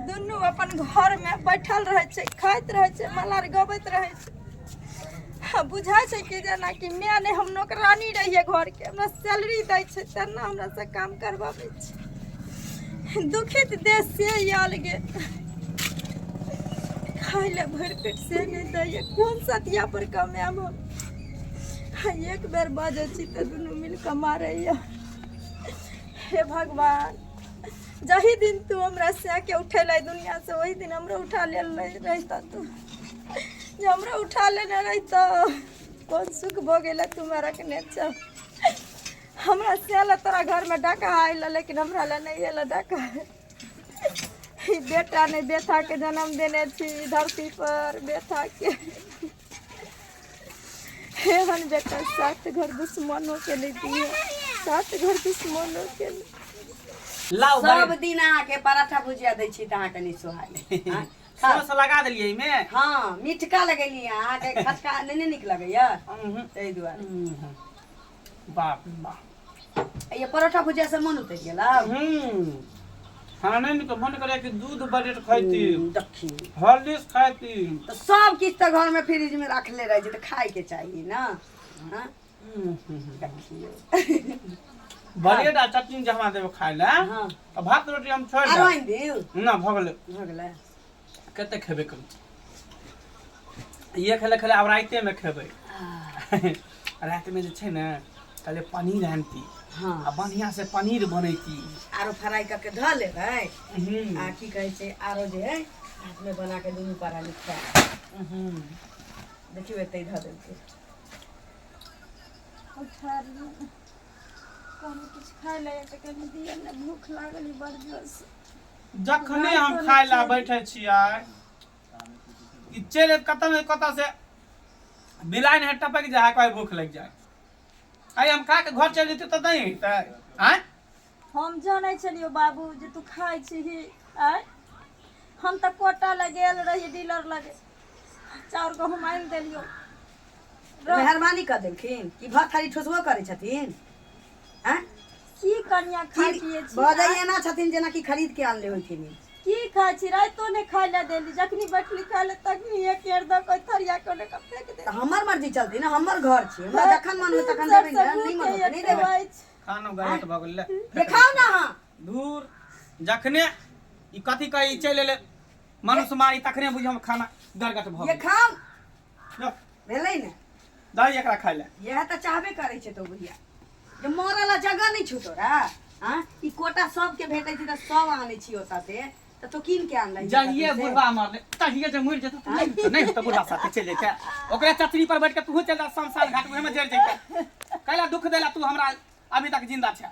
दुनू अपन घरमे बैठल रहै छै खाइत रहै छै मलार गबैत रहै छै बुझै छै कि जेनाकि माय नहि हम नौकरानी रहियै घरके हमरा सैलरी दै छै तेना हमरासँ काम करबाबै छै दुखित देश से आयल गे खाय लए भरि पेट से नहि दैए कोन सतिया पर कमाएब हम एक बेर बाजै छी तऽ दुनू मिल कऽ मारैए हे भगवान जही दिन तू हमरा से के उठेले दुनिया से वही दिन हमरा उठा ले रहता तू जो हमरा उठा लेने रहता कौन सुख भो गेला तुम्हारा के नेचा हमरा से ला तोरा घर में डाका आयल लेकिन हमरा ला नहीं आयल डाका ई बेटा ने बेटा के जन्म देने छी ई धरती पर बेटा के एहन बेटा सात घर दुश्मनो के नहि दिए सात घर दुश्मनो के नहि। लाओ सब बड़ी दिन अहाँके पराठा भुजिया दै छी तऽ अहाँके नहि सोहाय हाँ, खा। सौस लगा देलियै एहिमे हँ मिठका लगेली अहाँके खटका नहि ने नीक लगैया ताहि दुआरे बाप रे बाप ये परोठा भुजिया से मन उतर गेला हम्म खाने में तो मन करे कि दूध बरेट खाती देखी हॉर्लिक्स खाती तो सब किछ तो घर में फ्रिज में रखले रह जे तो खाए के चाहिए ना हाँ? हम्म, हम्म, हम्म। देखियो बरेट आ चटनी जमा देबे खाए ला हाँ तो भात रोटी हम छोड़ आरो दे आइन दियो ना भगले भगले कतेक खेबै कम इहे खेले खेले आब राइतेमे खेबै रातिमे जे छै ने कहलियै पनीर आनती हँ आ बढ़िआँ से पनीर बनैती आरो फ्राई कऽ के धऽ लेबै हम्म, आ की कहै छै आरो जे है हाथमे बना के दुनू पारा लिखा हम्म। देखियौ एतै धऽ देलकै कहलहुँ किछु खाय लए तऽ कनि दिअ ने भूख लागल ई बड़ जोरसँ जखने हम खाय लए बैठे छियै ई चलि कतऽ ने कतऽ से बिलाइन है टपक जाए है कोई भूख लग जाए आइ हम खा के घर चलि जेतै तऽ नहि हेतै आँय हम जानै छलियौ बाबू जे तू खाइ छीही आँय हम तऽ कोटा लग गेल रही डीलर लग चाउर गहूँम आनि देलियौ मेहरबानी कऽ देलखिन कि भर थारी ठोसबो करै छथिन आँय? की कनिया खाइ की पिए छी बजै आँय? एना छथिन जेनाकि खरीद के आनले होइथिन ई। की खाइ छी राइतो ने खाइ लए देली जखनी बैठली खाइ लए तखनी एक केर दऽ कऽ थरिया के ओने के फेंक दे तऽ हमर मर्जी चलती ना हमर घर छी हमरा जखन मन होत तखन देबै ना नहि मन होत नहि देबै खानो गलत भऽ गेलै देखाउ ना अहाँ धूर जखने ई कथी कहै ई चलि एलै मनुष्य मारी तखने बुझियौ हम खाना गरगट भऽ गेल देखाउ जो भेलै ने दाई एकरा खाय ले इएह तऽ चाहबे करै छै तो बुढ़िया जे मरऽ ला जगह नहि छौ तोरा हँ ई कोटा सबके भेटै छै तऽ सब आनै छी ओतऽ से तऽ तो कीन के आनलै जहिए बुढ़वा मरले तहिए जे मरि जेतौ तऽ नहि होतौ, नहि होतौ बुढ़वा साथे चलि जाइ छै ओकरे चतरी पर बैठ के तू चलि जा शमशान घाट उहेमे जरि जाइ छै कैला दुख देला तू हमरा अभी तक जिंदा छै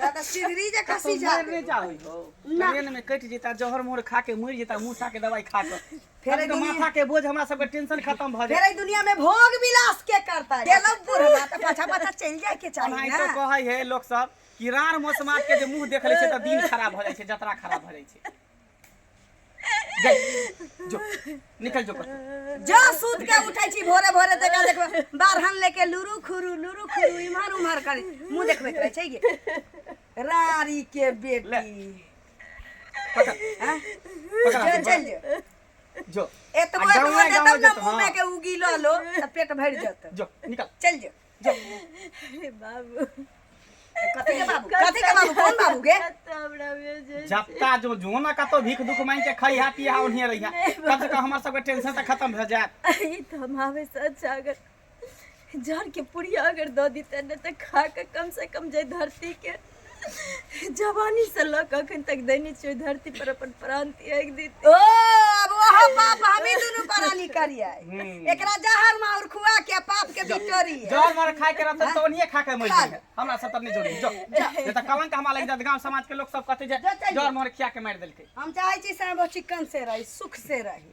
दादा सिगरी जे कसी जा मर नहीं जाओ हो ना। ट्रेन में कट जेता जहर मोहर खा के मर जेता मूसा के दवाई खा के फिर फिर तो दुनिया- माथा के बोझ हमरा सब के टेंशन खत्म भ फिर जाए एहि दुनिया में भोग विलास के करता है गेलो बुढ़वा त पाछा पाछा चल जाए के चाहिए भाई ना तो कहै है लोग सब कि रार मौसमात के जे मुंह देख ले छै त दिन खराब भ जाय छै जतरा खराब भ जाय छै जो निकल जो पर जो सूत के उठै छी भोरे भोरे देखा देखबे बारहन लेके लुरु खुरु लुरु खुरु इम्हर उम्हर करी मुंह देखबैत रहै छै गे रारी के बेटी पकड़ हाँ? पकड़ जो हाथ, चल जो जो एतबो आ गाँवे- एतबो गाँवे देतब न जेतौ, मुँह हाँ। में के उगी लो त पेट भरि जत जो निकल चल जो अरे बाबू कथी के बाबू कथी के बाबू कौन बाबू गे कत्ता हमरा में जे जत्ता जो जो ना कतो भीख दुख मांग के खइहा पिहा ओनिए रहिया कम से कम हमर सबके टेंशन त खत्म भ जात ई तो हम आवे से अच्छा अगर जर के पुड़िया अगर दो दी तने तो खा के कम से कम जे धरती के जवानी से लऽ कऽ अखन तक देने छियै ओहि धरती पर अपन प्राण त्याग देते ओ अब ओह पाप हमी दुनू पराली करिए एकरा जहर माउर खुआ के पाप के बिटोरी जहर मर खाए के रहतै तऽ ओनिये खा के मरि खा जाइए हमरा सब तर नहि जोड़ी जो नहि तऽ कलंक हमरा लागि जायत गाँव समाज के लोक सब कहतै जे जहर मर खिया के मारि देलकै हम चाहै छी से वो चिकन से रही सुख से रही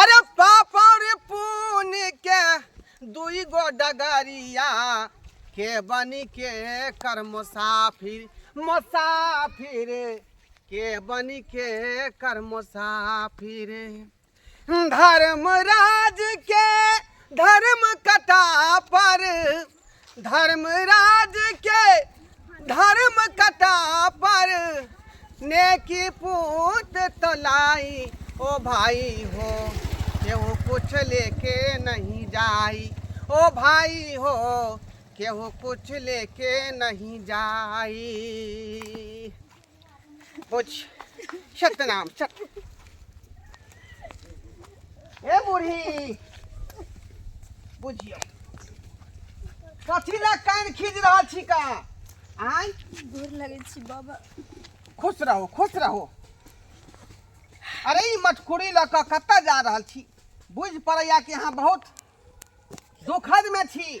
अरे पापा रे पून के दुई गो डगरिया के बनी के कर मुसाफिर मुसाफिर के बनी के कर मुसाफिर धर्मराज के धर्म कथा पर धर्मराज के धर्म कथा पर नेकी पूत तलाई ओ भाई हो केहू कुछ लेके नहीं जाई ओ भाई हो केहू कुछ लेके नहीं जाई बुझ सतनाम सत हे बूढ़ी बुझियो कथी ला कान खींच रहल छी का आय गोर लगै छी बाबा खुश रहो खुश रहो अरे ई मटकुरी लऽ कऽ कतऽ जा रहल छी बुझि पड़ैया कि अहाँ बहुत दुखद में छी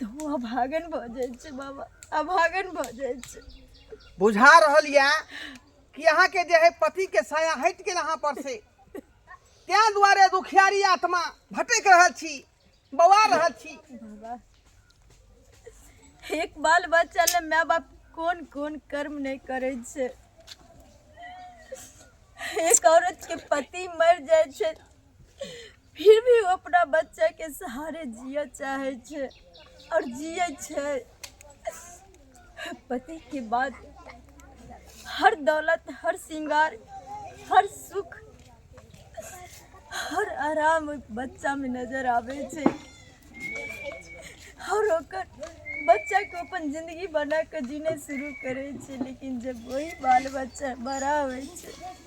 तो अभागन भऽ जाइ छै बाबा अभागन भऽ जाइ छै बुझा रहल यऽ कि अहाँके जे है पति के साया हटि गेल अहाँ पर से तें दुआरे दुखियारी आत्मा भटक रहल छी बौआ रहल छी बाबा एक बाल बच्चा ले माय बाप कोन कोन कर्म नहि करै छै एक औरत के पति मर जाइ छै फिर भी ओ अपना बच्चा के सहारे जिय चाहे छे और जिय छे पति के बाद हर दौलत हर श्रृंगार हर सुख हर आराम ओहि बच्चा में नजर आवे छे और ओकर बच्चा के अपन जिंदगी बना के जीने शुरू करे छे लेकिन जब वही बाल बच्चा बड़ा होय छे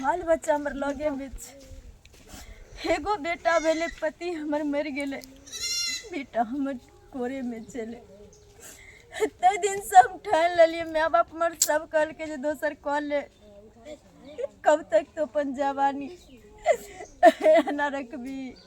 बाल बच्चा हमर लगे में छै एगो बेटा भेले पति हमर मरि गेले बेटा हमर कोरे में चले एते दिन से हम ठान लेलिए माय बाप हमर सब कहलके जे दोसर कह ले कब तक तो अपन जवानी एना रखबी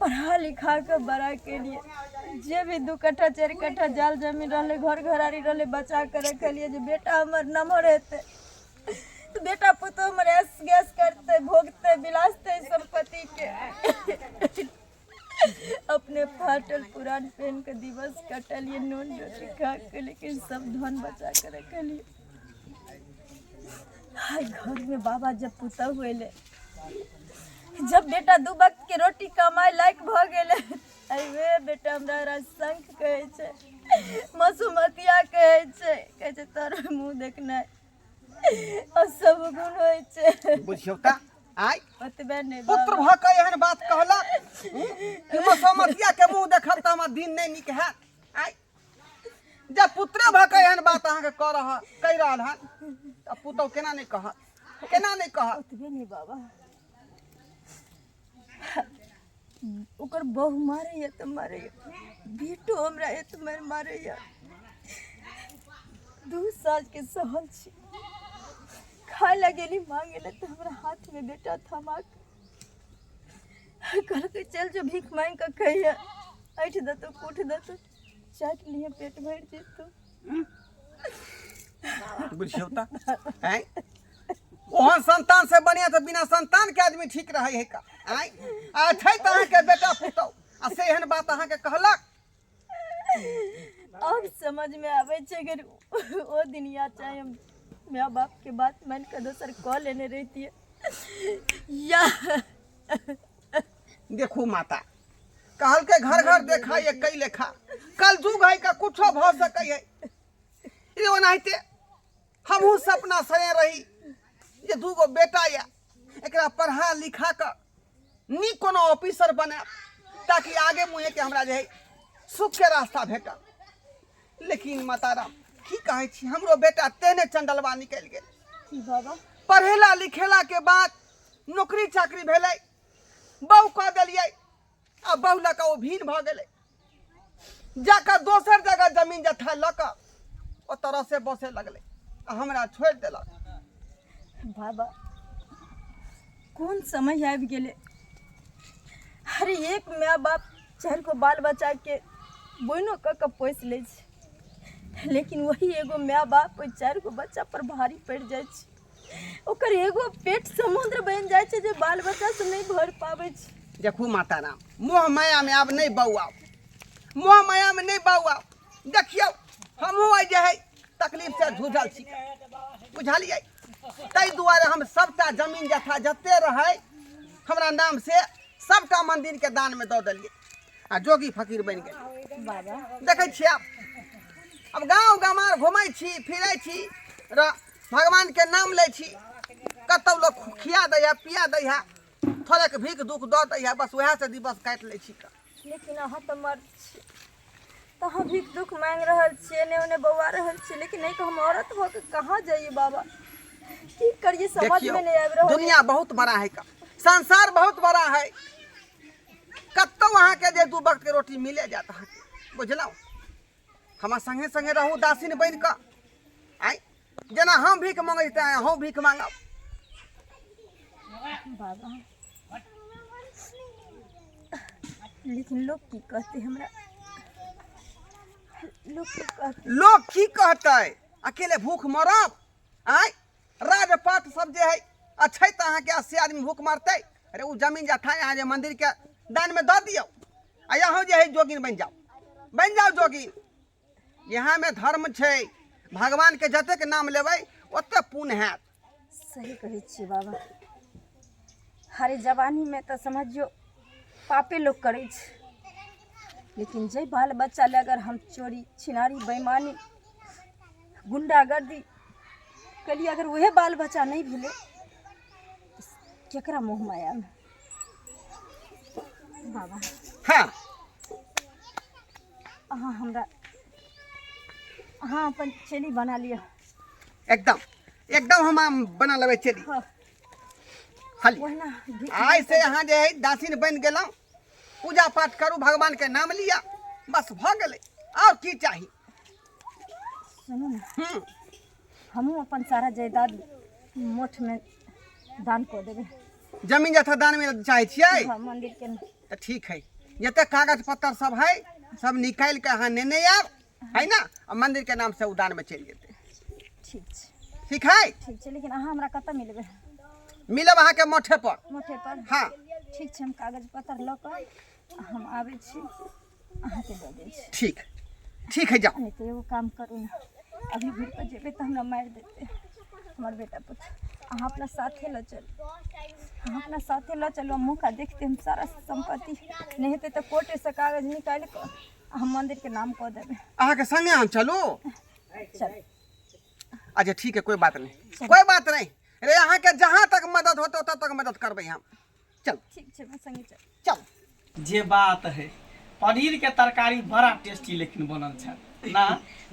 पढ़ा लिखा कऽ बड़ा केलियै जे भी दू कट्ठा चारि कट्ठा जाल जमीन रहलै घर घरारी रहलै बचा कऽ रखलियै जे बेटा हमर नमहर हेतै तऽ बेटा पुतहु हमर ऐस गैस करतै भोगतै बिलासतै सम्पत्तिके अपने फाटल पुरान पेन के दिवस कटलियै नून रोटी खा के लेकिन सब धन बचा के रखलियै हाय घर में बाबा जब पुतहु एलै जब बेटा दू वक्त के रोटी कमाए लायक भ गेले अरे वे बेटा हमरा रसंक कहे छे मसुमतिया कहे छे कहे छे तोर मुंह देखना और सब गुण होय छे बुझियौ त आइ ओतबे ने पुत्र भ के एहन बात कहलक हूँ, कि मसोमतिया के मुंह देखब त हमर दिन नहि नीक हैत आइ जब पुत्रे भऽ कऽ एहन बात अहाँके कऽ रहल कहि रहल हन तऽ पुतहु केना नहि कहत केना नहि कहत ओतबे नहि बाबा ओकर बहु मारैए तऽ मारैए बेटो हमरा एत मारि मारैए दू सालके सहल छी खाय लए गेली मांगे लए तऽ हमरा हाथमे बेटा थमा कऽ कहलकै चल जो भीख मांगि कऽ खैहे ऐठ देतौ कूट देतौ चाटि लिहे पेट भरि जेतौ बुझियौ तऽ आँय ओहन संतान से बढ़िया तऽ बिना संतान के आदमी ठीक रहै है का आँय आ छै तऽ अहाँके बेटा पुतौ आ से एहन बात अहाँके कहलक अब समझ में आवे छे अगर वो दिन याद चाहे हम माँ बाप के बात मान के दोसर कह लेने रहती है या देखू माता कहल के घर घर देखा ये कई लेखा कल जुग है का कुछो भ सकै है ई ओनाहिते हमहूँ सपना सने रही जे दू गो बेटा यए एकरा पढ़ा लिखा कऽ नीक कोनो ऑफिसर बने ताकि आगे मुँहेके हमरा जे है सुखके रास्ता भेटल लेकिन माताराम की कहै छी हमरो बेटा तेने चंडलवा निकलि गेल बाबा पढ़ेला लिखेला के बाद नौकरी चाकरी भेलै बहू कह देलियै आ बहु लऽ कऽ ओ भीड़ भऽ गेलै जाकर दोसर जगह जमीन जथा लऽ कऽ ओ तरह से बसे लगलै आ हमरा छोड़ि देलक बाबा कोन समय आबि गेलै हर एक माय बाप चारि गो बाल बच्चाके बोनो कऽ कऽ पोसि लै छै लेकिन वही एगो माय बाप ओहि चारि गो बच्चा पर भारी पड़ि जाइ छै ओकर एगो पेट समुद्र बनि जाइ छै जे बाल बच्चा से नहि भर पाबै छै देखू माता राम मोह माया में आब नहीं बौआ मोह माया में नहीं बौआ देखियो हमहूँ अइ जे है तकलीफ से झूझल छी बुझलियै ताहि दुआरे हम सबटा जमीन जथा जते रहै हमरा नाम से सबटा मंदिर के दान में दऽ देलियै आ जोगी फकीर बनि गेलियै बाबा देखै छियै आब अब गाँव गमार घुमै छी फिरै छी र भगवान के नाम ले छी कतौ लोग खिया दैया पिया दैया थोड़ेक भीख दुख दऽ दैया बस वएह से दिवस काटि लै छी कऽ। लेकिन अहाँ तऽ मर्द छी तऽ अहाँ भीख दुख मांग रहल छियै एने ओने बौआ रहल छियै लेकिन नहीं तो हम औरत भऽ के कहाँ जाइए बाबा की करिए समझ देखियौ में नहीं आबि रहल दुनिया बहुत बड़ा है कऽ। संसार बहुत बड़ा है कतौ अहाँके जे दू वक्त के रोटी मिले जात अहाँके बुझलहुँ हमरा संगे संगे रहू दासिन बनि कऽ आइ जेना हम भीख मंगै छी तेना अहूँ भीख मांगब बाबा लेकिन लोक की कहतै हमरा लोक की कहतै लोग की कहतै अकेले भूख मरब आय राजपाट सब जे है अच्छे तऽ अहाँके अस्सी आदमी भूख मरतै अरे ओ जमीन जथा यहाँ जे मंदिर के दान में दऽ दियौ आ यहाँ जे है जोगिन बनि जाओ बनि जाओ जोगिन यहाँ में धर्म छै भगवान के जतेक नाम लेबै ओते पुण्य हैत सही कहै छियै बाबा हरे जवानी में तऽ समझियो पापे लोग करै छै लेकिन जे बाल बच्चा ले अगर हम चोरी छिनारी बेईमानी गुंडागर्दी कलियै अगर वएह बाल बच्चा नहि भेलै तऽ केकरा मुँह मायामे बाबा हाँ अहाँ हमरा अहाँ अपन चेली बना लिअ एकदम एकदम हम आम बना लेबै चली हँ, हली ओहिना घी- आइ से अहाँ जे है दासिन बनि गेलहुँ पूजा पाठ करू भगवान के नाम लिअ बस भऽ गेलै आओर की चाही सुनू ने हम्म, हमहूँ अपन सारा जायदाद मोठमे दान कऽ देबै जमीन जथा दान में चाहे छियै हँ, मन्दिरके नहि। तऽ ठीक है जते कागज पत्तर सब है सब निकालि के अहाँ नेने आयब है ना आ मंदिर के नाम से उ दान में चलि जेतै ठीक छै ठीक है ठीक छै लेकिन अहाँ हमरा कतऽ मिलबै मिलब अहाँके मोठे पर मोठेपर हाँ ठीक छै हम कागज पत्तर लऽ कऽ हम आबै छी अहाँके दऽ दै छी ठीक ठीक है जाओ लेकिन एगो काम करू ने अभी घुर पर जेबै तऽ हमरा मारि देतै हमर बेटा पुत अहाँ अपना साथे लऽ चलू अहाँ अपना साथे लऽ चलू हम मौका देखते हम सारा सम्पत्ति नहि हेतै तऽ कोर्टेसँ कागज निकालि कऽ आ हम मन्दिरके नाम कऽ देबै अहाँ के संगे हम चलू चल अच्छा ठीक है कोई बात नहीं कोई बात नहीं रे अहाँ के जहाँ तक मदद होते ओतऽ तक मदद करबै हम चल ठीक छै मैं संगे चल चल जे बात है पनीर के तरकारी बड़ा टेस्टी लेकिन बनल छै ना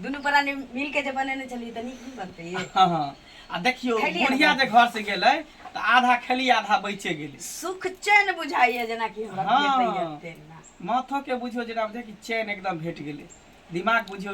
दुनू प्राणी मिल के जे बनेने छलियै तऽ नीक बनतै ये हाँ हाँ आ देखियो खेलियै बुढ़िया जे घर से गेलै तऽ आधा खेली आधा बचे गेलै सुख चैन बुझाइए जेनाकि हमरा हाँ। भेटैए तेना माथो के बुझियो जेना बुझे कि चैन एकदम भेट गेलै दिमाग बुझियो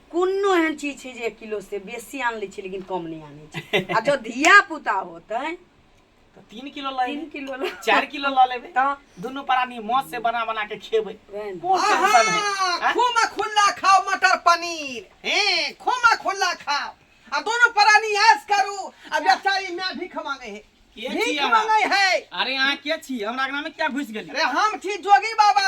कोनो एहन चीज छै जे एक किलो से बेसी आन लै छै लेकिन कम नहि आनै छै आ जब धिया पुता होतै तऽ तीन किलो लऽ तीन लेबै किलो लऽ चारि किलो लऽ लेबै तऽ दुनू प्राणी मौत से बना बना के खेबै वैह ने। कोन टेंशन है आहा, खोमा खुल्ला खाओ मटर पनीर हैं खोमा खुल्ला खाओ आ दोनों प्राणी ऐश करू आ बेचारी मैं भीख मांगे है के छी भीख अहाँ? मांगे है अरे अहाँ के छी हमरा अंगना में क्या घुस गेली अरे हम छी जोगी बाबा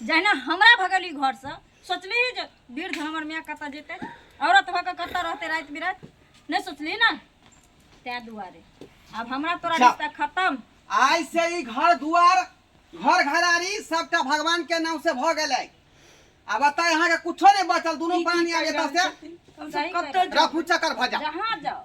जहिना हमरा भगली घरसँ सोचली जे वृद्ध हमर माय कतऽ जेतै औरत भऽ कऽ कतऽ रहतै राति बिराति नहि सोचली ने तैं दुआरे आब हमरा तोरा अच्छा। रिश्ता खत्म आइ से ई घर दुआर घर घरारी सबटा भगवान के नाम से भऽ गेलै आ बताए अहाँके कुछो नहि बचल दुनू प्राणी आब एतऽ से सही कतऽ कहे। रफू चक्कर भऽ जा जहाँ जाओ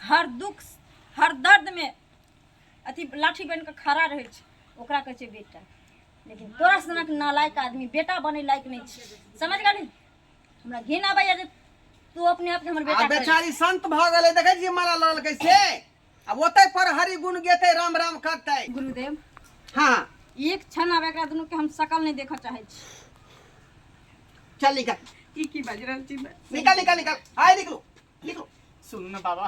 हर दुख हर दर्दमे अथी लाठी बनि कऽ खड़ा रहै छै ओकरा कहै छै बेटा लेकिन तोरा सनक नालायक आदमी बेटा बनै लायक नहि छै समझ गेली हमरा घिन आबैया जे तू अपने आपके हमर आ बेटा कहै बेचारी संत भऽ गेलै देखै छियै माला लऽ लेलकै से आ ओतै पर हरि गुण गेतै राम राम करतै छी। गुरुदेव हँ एक क्षण आब एकरा दुनू के हम शकल नहि देखऽ चाहै छी चल निकल की की बाजि रहल छी निकल निकल निकल आइ निकलू सुनू ने बाबा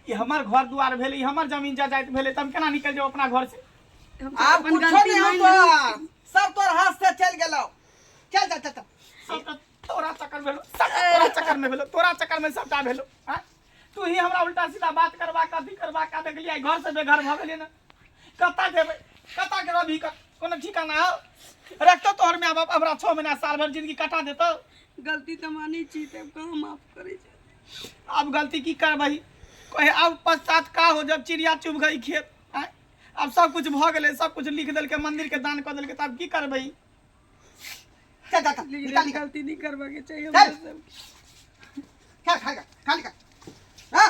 ई हमर घर दुआर भेलै ई हमर जमीन जायदाद भेलै तऽ हम केना निकल जाउ अपना घर से हम आब अपन कुछो गलती नहीं मान होतो लेली। सब तोर हाथ से चल गेलो चल चल चल चल। सब तऽ तोरा चक्कर भेलो सब तऽ तोरा चक्कर में भेलो तोरा चक्कर में सबटा भेलो आँय? तू ही हमरा उल्टा सीधा बात करबा कथी करबा का देखलियै घर से बेघर भऽ गेलियै ने कता गेबै कता गेबै अभी क- कोनो ठिकाना हौ रखतौ तोहर माय बाप हमरा छओ महीना साल भर जिंदगी कटा देतौ गलती तऽ मानै छी तब कहाँ माफ करै छै अब गलती की करबै कहे अब पश्चात का हो जब चिड़िया चुभ गई खेत आँय? अब सब कुछ भ गेलै सब कुछ लिख देलकै मंदिर के दान कऽ देलकै तब की करबै चल चल चल लेकिन निकाल एहन निकाल गलती नहि करबाके चाही हमरा चल। सबके खा खा खा निकाल हाँ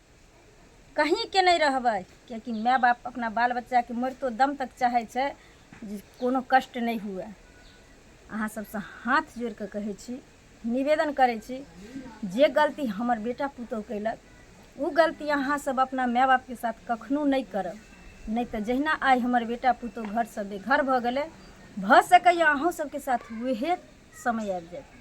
कहीँके नहि रहबै किएकि माय बाप अपना बाल बच्चाके मरितो दम तक चाहै छै जे कोनो कष्ट नहि हुए अहाँ सबसँ हाथ जोड़ि कऽ कहै छी निवेदन करै छी जे गलती हमर बेटा पुतहु कयलक ओ गलती अहाँ सब अपना माय बापके साथ कखनो नहि करब नहि तऽ जहिना आइ हमर बेटा पुतहु घरसँ बेघर भऽ गेलै भऽ सकैए अहूँ सबके साथ उहे समय आबि जायत